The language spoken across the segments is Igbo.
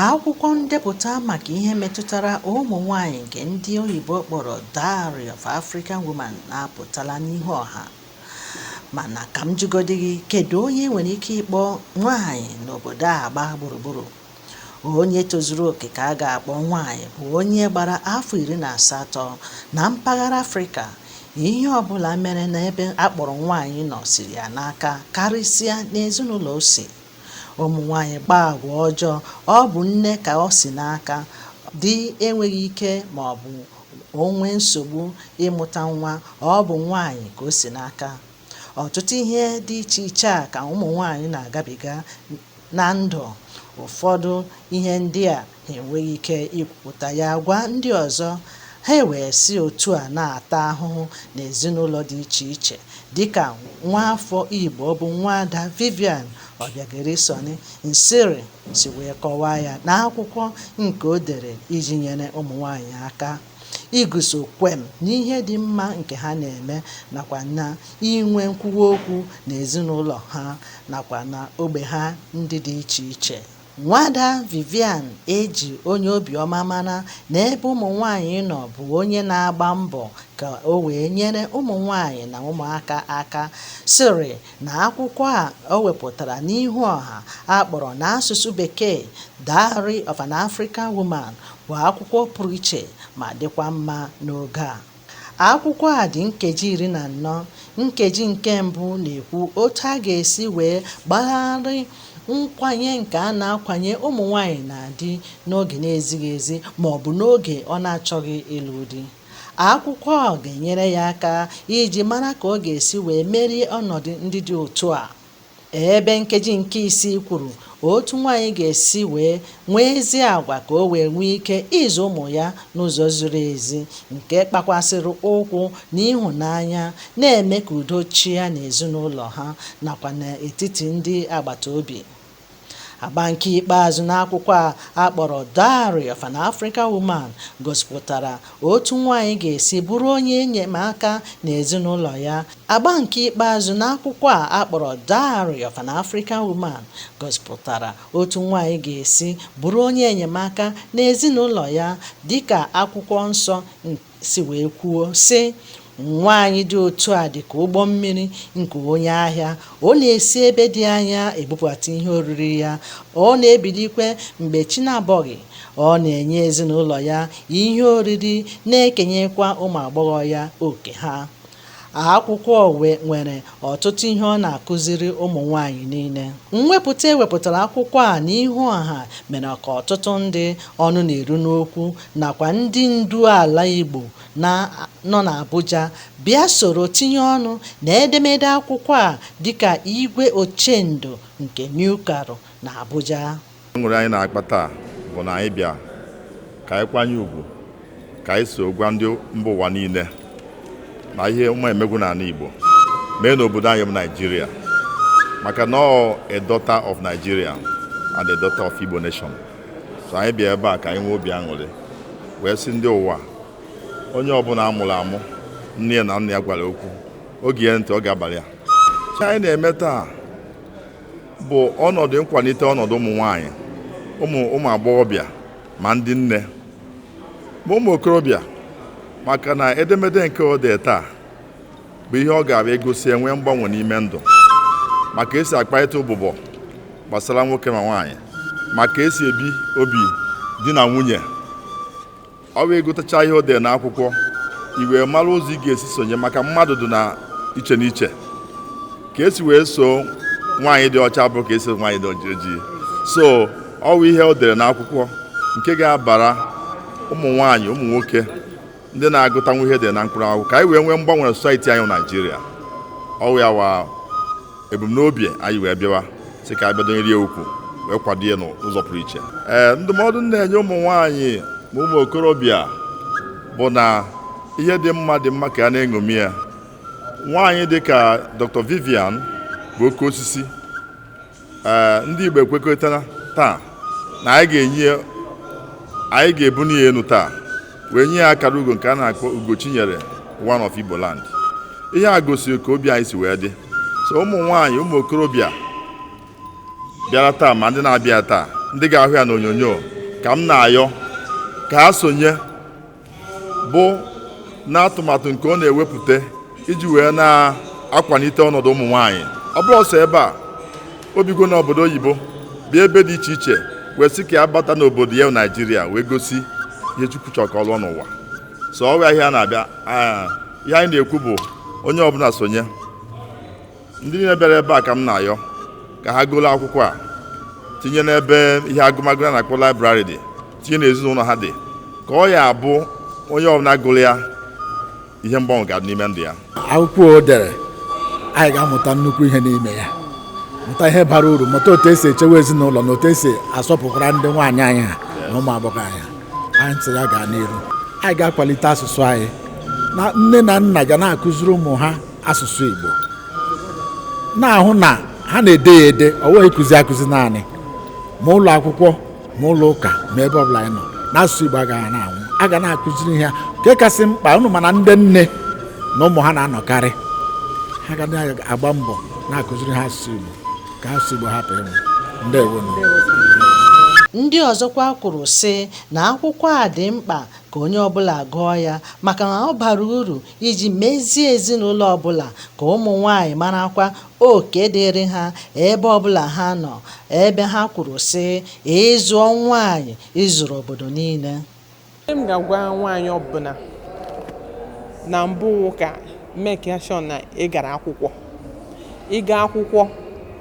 akwụkwọ ndepụta maka ihe metụtara ụmụ nwanyị nke ndị oyibo kpọrọ Diary of African Women na-apụtala n'ihu ọha mana ka m jụgodi gị kedu onye e nwere ike ịkpọ nwaanyị n'obodo a gbaa gburugburu onye tozuru oke ka a ga-akpọ nwaanyị bụ onye gbara afọ iri na asatọ na mpaghara afrịka ihe ọbụla mere n'ebe a kpọrọ nwaanyị nọ siri ya n'aka karịsịa n'ezinụlọ o si ụmụ nwaanyị kpaa agwa ọjọọ ọ bụ nne ka o si n'aka di enweghị ike ma ọ bụ o nwee nsogbu ịmụta nwa ọ bụ nwaanyị ka o si n'aka ọtụtụ ihe dị iche iche a ka ụmụ nwaanyị na-agabiga na ndụ ụfọdụ ihe ndị a ha enweghị ike ikwupụta ya gwa ndị ọzọ ha ewee si otu a na-ata ahụhụ n'ezinụlọ dị iche iche dịka nwaafọ Igbo bụ nwaada Vivian Obiageri Sonny Nsirim si wee kọwaa ya n'akwụkwọ nke o dere iji nyere ụmụ nwaanyị aka iguzo kwem n'ihe dị mma nke ha na-eme nakwa na inwe nkwuwa okwu na ezinụlọ ha nakwa na ogbe ha ndị dị iche iche nwaada Vivian e ji onye obiọma mara na ebe ụmụ nwaanyị nọ bụ onye na-agba mbọ ka o wee nyere ụmụ nwaanyị na ụmụaka aka sịrị na akwụkwọ a o wepụtara n'ihu ọha a kpọrọ n'asụsụ Bekee Diary of an African Woman bụ akwụkwọ pụrụ iche ma dịkwa mma n'oge a. Akwụkwọ a dị nkeji iri na anọ. Nkeji nke mbụ na-ekwu otu a ga-esi wee gbagharị nkwanye nke a na-akwanye ụmụ nwaanyị na di n'oge na-ezighị ezi ma ọ bụ n'oge ọ na-achọghị ịlụ di. Akwụkwọ a ga-enyere ya aka iji mara ka ọ ga-esi wee merie ọnọdụ ndị dị otu a. Ebe nkeji nke isii kwuru otu nwaanyị ga-esi wee nwee ezi agwa ka o wee nwee ike ịzụ ụmụ ya n'ụzọ ziri ezi, nke gbakwasịrị ụkwụ n'ịhụnanya, na-eme ka udo chịa n'ezinụlọ ha nakwa n'etiti ndị agbata obi. Agba nke ikpeazụ n'akwụkwọ a a kpọrọ Diary of an African Woman gosipụtara otu nwaanyị ga-esi bụrụ onye enyemaka n'ezinụlọ ya. Agba nke ikpeazụ n'akwụkwọ a a kpọrọ Diary of an African Woman gosipụtara otu nwaanyị ga-esi bụrụ onye enyemaka n'ezinụlọ ya dịka akwụkwọ nsọ nke si wee kwuo sị nwaanyị dị otu a dị ka ụgbọ mmiri nke onye ahịa ọ na-esi ebe dị anya ebupụta ihe oriri ya ọ na-ebilikwe mgbe chi na-abọghị ọ na-enye ezinụlọ ya ihe oriri na-ekenyekwa ụmụ agbọghọ ya oke ha Akwụkwọ nwere ọtụtụ ihe ọ na-akụziri ụmụ nwaanyị niile. Mwepụta e wepụtara akwụkwọ a n'ihu ọha mere ka ọtụtụ ndị ọnụ na-eru n'okwu nakwa ndị ndu ala Igbo na-anọ n'Abuja bịa soro tinye ọnụ na edemede akwụkwọ a dịka Igwe Ochendo nke New Karu n'Abuja. aṅụrị anyị na-akpa taa bụ na anyị bịa ka anyị kwanye ugwu ka anyị so gwa ndị mba ụwa niile na ihe ọma emegwo n'ala Igbo mee n'obodo anyị bụ Naijiria maka na ọ a daughter of Nigeria and a daughter of Igbo nation so anyị bịa ebe a ka anyị nwee obi aṅụrị wee sị ndị ụwa onye ọbụla a mụrụ amụ nne ya na nna ya gwara okwu o gee ya ntị ọ ga-abalị ya ihe anyị na-eme taa bụ ọnọdụ nkwalite ọnọdụ ụmụ nwanyị ụmụ ụmụ agbọghọbịa ma ndị nne ma ụmụ okorobịa maka na edemede nke o dee taa bụ ihe ọ ga-abịa egosi e nwee mgbanwe n'ime ndụ maka e si akparịta ụbụbọ gbasara nwoke ma nwaanyị maka e si ebi obi di na nwunye ọ wụ ị gụtacha ihe o dere n'akwụkwọ i wee mara ụzọ ị ga-esi sonye maka mmadụ dị na iche n'iche ka e si wee so nwaanyị dị ọcha bụ ka e si nwaanyị dị ojii so ọ wụ ihe o dere n'akwụkwọ nke ga-abara ụmụ nwaanyị ụmụ nwoke ndị na-agụtanwu ihe dị na mkpụrụ akwụkwọ ka anyị wee nwee mgbanwe na society anyị Naijiria ọ wụ ya wụ ebumnobi anyị wee bịawa sị ka anyị bịa dọnyere ya ukwu wee kwado ya n'ụzọ pụrụ iche ee ndụmọdụ m na-enye ụmụ nwaanyị ma ụmụ okorobịa bụ na ihe dị mma dị mma ka a na-eṅomi ya nwaanyị dị ka Dr. Vivian bụ oke osisi ee ndị Igbo ekwekọrịtara taa na anyị ga-enye anyị ga-ebuni ya enu taa wee nye ya akara ugo nke a na-akpọ Ugochinyere one of Igbo land ihe a gosiri ka obi anyị si wee dị so ụmụ nwaanyị ụmụ okorobịa bịara taa ma ndị na-abịa taa ndị ga-ahụ ya n'onyonyo ka m na-ayọ ka ha sonye bụ n'atụmatụ nke ọ na-ewepụta iji wee na-akwalite ọnọdụ ụmụ nwaanyị ọ bụrọ sọ ebe a o bigo n'obodo oyibo bụ ebe dị iche iche wee sị ka ya bata n'obodo ya naijiria wee gosi ihe chukwu chọrọ ka ọ lụọ n'ụwa so ọ wụ ya ihe a na-abịa ah, ihe anyị na-ekwu bụ onye ọbụla sonye ndị niile bịara ebe a ka m na-ayọ ka ha goro akwụkwọ a tinye n'ebe ihe agụmagụ a na-akpọ library dị tinye n'ezinụlọ ha dị ka ọ ya abụ onye ọbụla gụrụ ya ihe mgbanwe ga-adị n'ime ndụ ya akwụkwọ o dere anyị ga-amụta nnukwu ihe n'ime ya mụta ihe bara uru mụta otu esi echewe ezinụlọ na otu esi asọpụkwara ndị nwaanyị anyị ha na ụmụ agbọghọ anyị anyị sị ya gaa n'iru anyị ga-akwalite asụsụ anyị na nne na nna ga na-akụziri ụmụ ha asụsụ Igbo na-ahụ na ha na-ede ya ede ọ wụghị ịkụzi akụzi naanị ma ụlọ akwụkwọ ma ụlọ ụka ma ebe ọbụla anyị nọ na asụsụ Igbo agaghị na-anwụ a ga na-akụziri ha nke kasị mkpa unu ma na ndị nne na ụmụ ha na-anọkarị ha ga na-agba mbọ na-akụziri ha asụsụ Igbo ka asụsụ Igbo hapụ ịnwụ ndewo ndị ọzọkwa kwuru sị na akwụkwọ a dị mkpa ka onye ọbụla gụọ ya maka na ọ bara uru iji mezie ezinụlọ ọbụla ka ụmụ nwaanyị marakwa oke dịrị ha ebe ọbụla ha nọ ebe ha kwuru sị ị zụọ nwaanyị ị zụrụ obodo niile m ga-agwa nwaanyị ọbụla na mbụ wụ ka make sure na ị gara akwụkwọ ị gaa akwụkwọ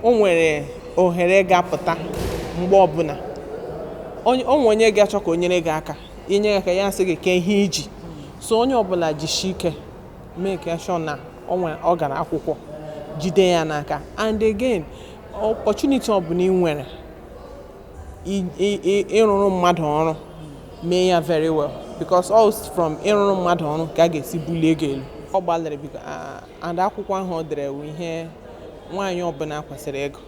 o nwere ohere ga-apụta mgbe ọbụla o nwee onye ga-achọ ka o nyere gị aka inye aka ya sị gị kee ihe i ji so onye ọbụla jishi ike make sure na ọ nwere ọ gara akwụkwọ jide ya n'aka and again opportunity ọbụla ị nwere i- i- i- ịrụrụ mmadụ ọrụ mee ya very well because all from ịrụrụ mmadụ ọrụ ka a ga-esi bulie gị elu ọ gbalịrị biko a- and akwụkwọ ahụ o dere wụ ihe nwaanyị ọbụla kwesịrị ịgụ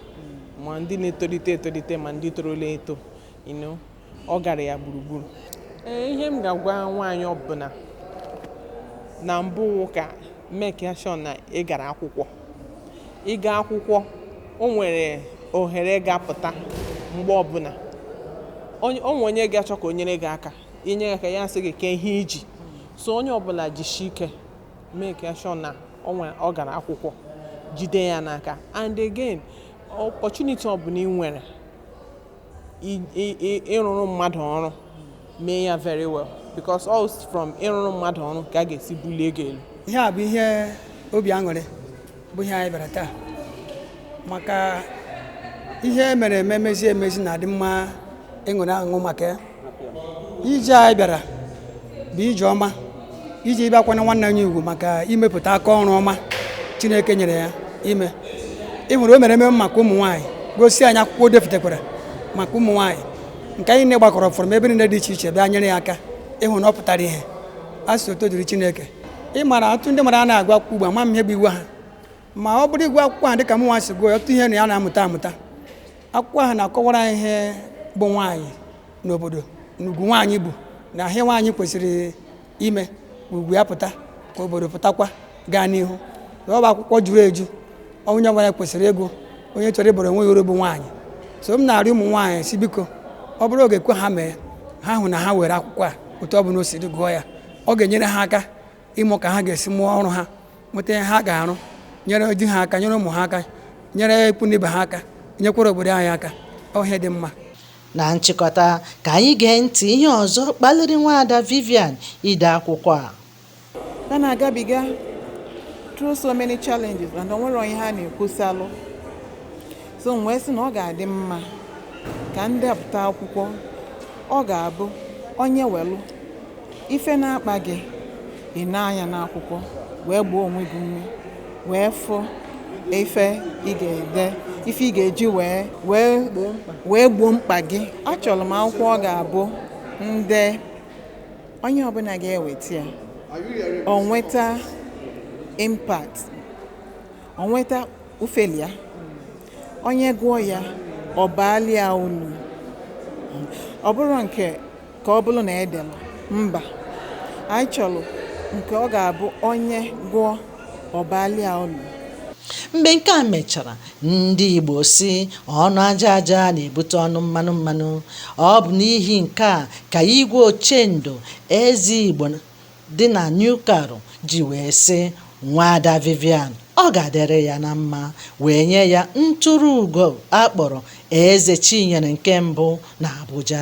ma ndị na-etolite etolite ma ndị torola eto you know ọ gara ya gburugburu ee ihe m ga-agwa nwaanyị ọbụla na mbụ wụ ka make sure na ị gara akwụkwọ ị gaa akwụkwọ o nwere ohere ga-apụta mgbe ọbụla o nwee onye ga-achọ ka o nyere gị aka inye aka ya sị gị kee ihe i ji so onye ọbụla jishi ike make sure na ọ gara akwụkwọ jide ya n'aka and again opportunity ọbụla ị nwere ịrụrụ mmadụ ọrụ mee ya very well because all from ịrụrụ mmadụ ọrụ ka a ga-esi bulie gị elu ihe a bụ ihe obi aṅụrị bụ ihe anyị bịara taa maka ihe e mere eme mezi emezi na-adị mma ịṅụrị aṅụ maka ya ije anyị bịara bụ ije ọma iji ịbịa kwanye nwanne anyị ugwu maka imepụta aka ọrụ ọma chineke nyere ya ime ị hụrụ o mere ememe maka ụmụ nwaanyị gosi anyị akwụkwọ o depụtakwara maka ụmụ nwaanyị nke anyị niile gbakọrọ from ebe niile dị iche iche bịa nyere ya aka ịhụ na ọ pụtara ihe a sị otuto dịrị chineke ị mara ọtụtụ ndị mmadụ anaghị agụ akwụkwọ ugbu a ma m ihe bụ iwu ha ma ọ bụrụ ị gụọ akwụkwọ a dịka mụ nwa si gụọ ya ọtụtụ ihe na ya na-amụta amụta akwụkwọ ahụ na-akọwara anyị ihe bụ nwaanyị n'obodo na ugwu nwaanyị bụ na ihe nwaanyị kwesịrị ime ugwu ya pụta ka obodo pụtakwa gaa n'ihu ọ bụ akwụkwọ juru eju onye ọbụla kwesịrị ịgụ onye chọrọ ịbara onwe ya uru bụ nwaanyị so m na-arịọ ụmụ nwaanyị sị biko ọ bụrụ oge kwe ha mee ha hụ na ha were akwụkwọ a otu ọ bụla o si dị gụọ ya ọ ga-enyere ha aka ịmụ ka ha ga-esi mụọ ọrụ ha nweta ihe ha ga-arụ nyere di ha aka nyere ụmụ ha aka nyere ikwu na ibe ha aka nyekwara obodo anyị aka ọ ihe dị mma na nchịkọta ka anyị gee ntị ihe ọzọ kpaliri nwaada Vivian ide akwụkwọ a ha na-agabiga through so many challenges and o nwerọ onye ha na-ekwusalụ so m wee sị na ọ ga-adị mma ka m depụta akwụkwọ ọ ga-abụ onye welụ Ife na-akpa gị, ị nee anya n'akwụkwọ wee gbaa onwe gị ume wee fụ ife ị ga-ede ife ị ga-eji wee gboo mkpa gị achọlụ m akwụkwọ ọ ga-abụ ndị onye ọbụna ga-eweta ya o nweta impact o nweta ufeli ya onye gụọ ya ọ baalụ ya ulu ọ bụrọ nke ka ọ bụrụ na e dere mba anyị chọrọ nke ọ ga-abụ onye gụọ ọ baalụ ya ulu mgbe nke a mechara ndị Igbo sị ọnụ aja aja na-ebute ọnụ mmanụ mmanụ ọ bụ n'ihi nke a ka igwe ochendo eze Igbo dị na New Karu ji wee sị nwaada Vivian ọ ga-adịrị ya na mma wee nye ya ntụrụ ugo a kpọrọ eze Chinyere nke mbụ na Abuja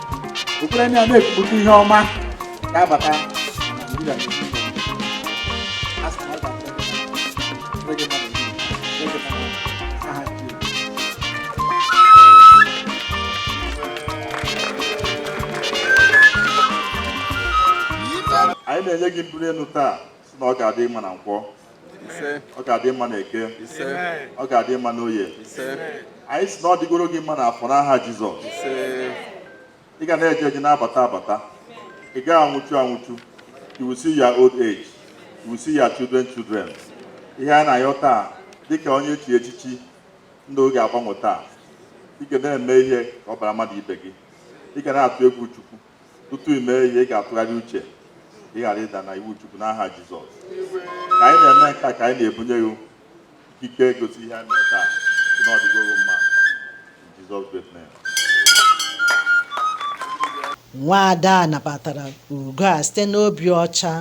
okpukpere ndị a na-ekwupụta ihe ọma ga-abata na anyị na-enye gị mbuli elu taa si na ọ ga-adị mma na nkwọ ọ ga-adị mma na eke ọ ga-adị mma na oye anyị si na ọ dịgoro gị mma na afọ n'aha Jizọs ị ga na-eje eje na-abata abata ị gaghị anwụchu anwụchu you will see your old age you will see your children children ihe anyị na-ayọ taa dịka onye echi echichi na oge agbanwe taa ị ga na-eme ihe ka ọ bara mmadụ ibe gị ị ga na-atụ egwu Chukwu tutu i mee ihe ị ga-atụgharị uche ị ghara ịda na iwu Chukwu n'aha Jizọs ka anyị na-eme nke a ka anyị na-ebunye gị ikike gosi ihe anyị mere taa na ọ dịgo mma in Jesus great name nwaada a nabatara ugo a site n'obi ọcha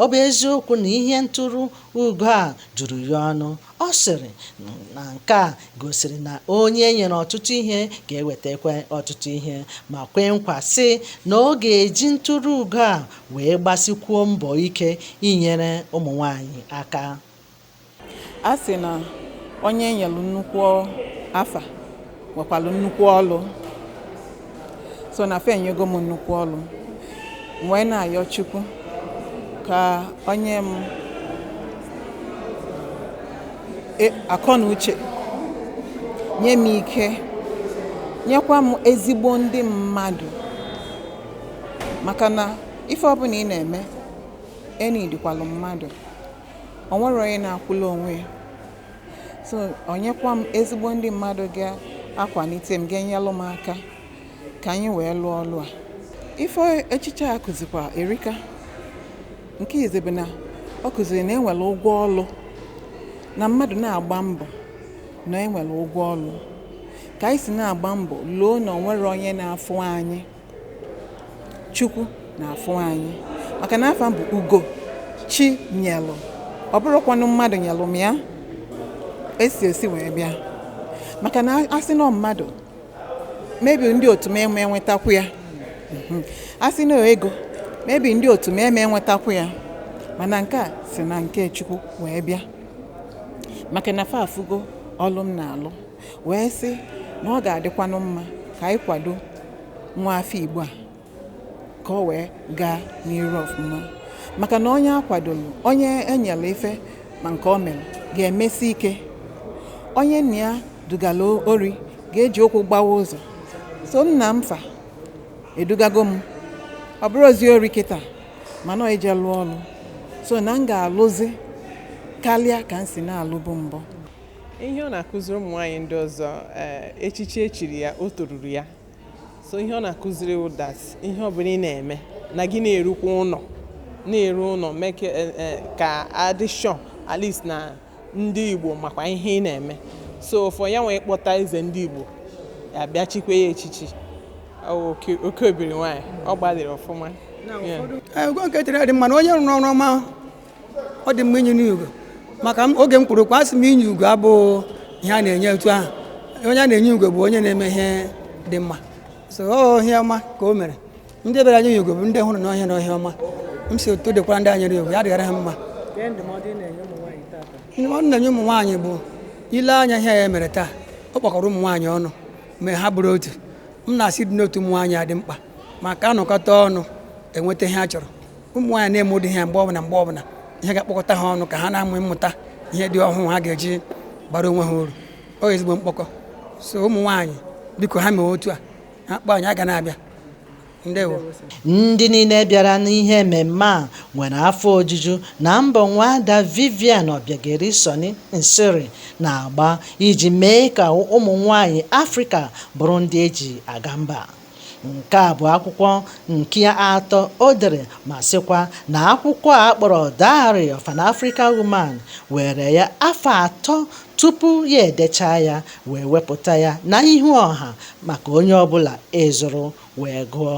ọ bụ eziokwu na ihe ntụrụ ugo a juru ya ọnụ Ọ sịrị na nke a gosiri na onye e nyere ọtụtụ ihe ga-ewetakwa ọtụtụ ihe ma kwee nkwa sị na ọ ga-eji ntụrụ ugo a wee gbasikwuo mbọ ike inyere ụmụ nwaanyị aka. A sị na onye e nyelu nnukwu afa nwekwalụ nnukwu ọlụ so na fa enyego m nnukwu ọlụ m wee na-ayọ chukwu ka o nye m akọ na uche nye m ike nyekwa m ezigbo ndị mmadụ maka na ife ọbụla ị na-eme ị needikwalụ mmadụ o nwerọ onye na-akwụlụ onwe ya so o nyekwa m ezigbo ndị mmadụ ga-akwalite m ga-enyelụ m aka ka anyị wee lụọ ọlụ a ife echichi a kụzikwa erika nke izizi bụ na ọ kụziri na enwere ụgwọ ọlụ na mmadụ na-agba mbọ na enwere ụgwọ ọlụ ka anyị si na-agba mbọ loo na onwere onye na-afụ anyị Chukwu na-afụ anyị maka na afa a bụ ugo chi nyelụ ọ bụrọkwanụ mmadụ nyelụ m ya esi esi wee bịa maka na asị na ọ mmadụ maybe ndị otu m eme enwetakwu ya Mhm. asị na ego maybe ndị otu m eme enwetakwu ya mana nke a si na nke Chukwu wee bịa maka na fa afụgo ọlụ m na-alụ wee sị na ọ ga-adịkwanụ mma ka anyị kwado nwa afọ Igbo a ka ọ wee gaa n'iru ọfụma maka na onye akwadolu onye enyelụ ife ma nke o mere ga-emesi ike onye nna ya dugalụ ori ga-eji ụkwụ gbawa ụzọ so nna m fa edugago m ọ bụrọ ozi ori kịta mana ọ ije lụọ ọlụ so na m ga-alụzi kalịa ka m si na-alụbu mbụ ihe ọ na-akụziri ụmụ nwaanyị ndị ọzọ eh, echichi echiri ya o toruru ya so ihe ọ na-akụziri others ihe ọbụla ị na-eme na gị na-erukwa ụlọ na-eru ụlọ mee ka eh, eh, ka adị sure at least na ndị igbo makwa ihe ị na-eme so for ya nwee kpọta eze ndị igbo ya bịa chikwa ya echichi Ọ wụ oke- oke obiri nwaanyị ọ gbalịrị ọfụma Yeah. ugo nke tere dị mma na onye rụrụ ọrụ ọma ọ dị mma inye n'ugo maka oge m kwuru okwu asị m inye ugo abụghị ihe a na-enye otu ahụ onye a na-enye ugo bụ onye na-eme ihe dị mma so ọ ihe ọma ka o mere ndị bịara nye ya ugo bụ ndị hụrụ na ọ ihe na ọ ihe ọma m sị otu ọ dịkwara ndị a nyere ugo ya dịgara ha mma ndụmọdụ m na-enye ụmụ nwaanyị bụ ile anya ihe ya mere taa ọ kpọkọrọ ụmụ nwaanyị ọnụ mee ha bụrụ otu m na-asị ịdị n'otu ụmụ nwaanyị a dị mkpa maka anọkọta ọnụ enweta ihe a chọrọ ụmụ nwaanyị na-eme ụdị ihe a mgbe ọbụla mgbe ọbụla ihe ga-akpọkọta ha ọnụ ka ha na-amụ mmụta ihe dị ọhụụ ha ga-eji baara onwe ha uru ọ ezigbo mkpọkọ so ụmụ nwaanyị biko ha mee otu a ha kpọọ anyị a ga na-abịa ndewo ndị niile bịara n'ihe ememme a nwere afọ ojuju na mbọ nwaada Vivian Obiageri Sonny Nsirim na-agba iji mee ka ụmụ nwanyị Afrịka bụrụ ndị eji aga mba Nke a bụ akwụkwọ nke atọ o dere ma sịkwa na akwụkwọ a kpọrọ Diary of an African Woman weere ya afọ atọ tupu ya edechaa ya wee wepụta ya na ihu ọha maka onye ọbụla ịzụrụ wee gụọ.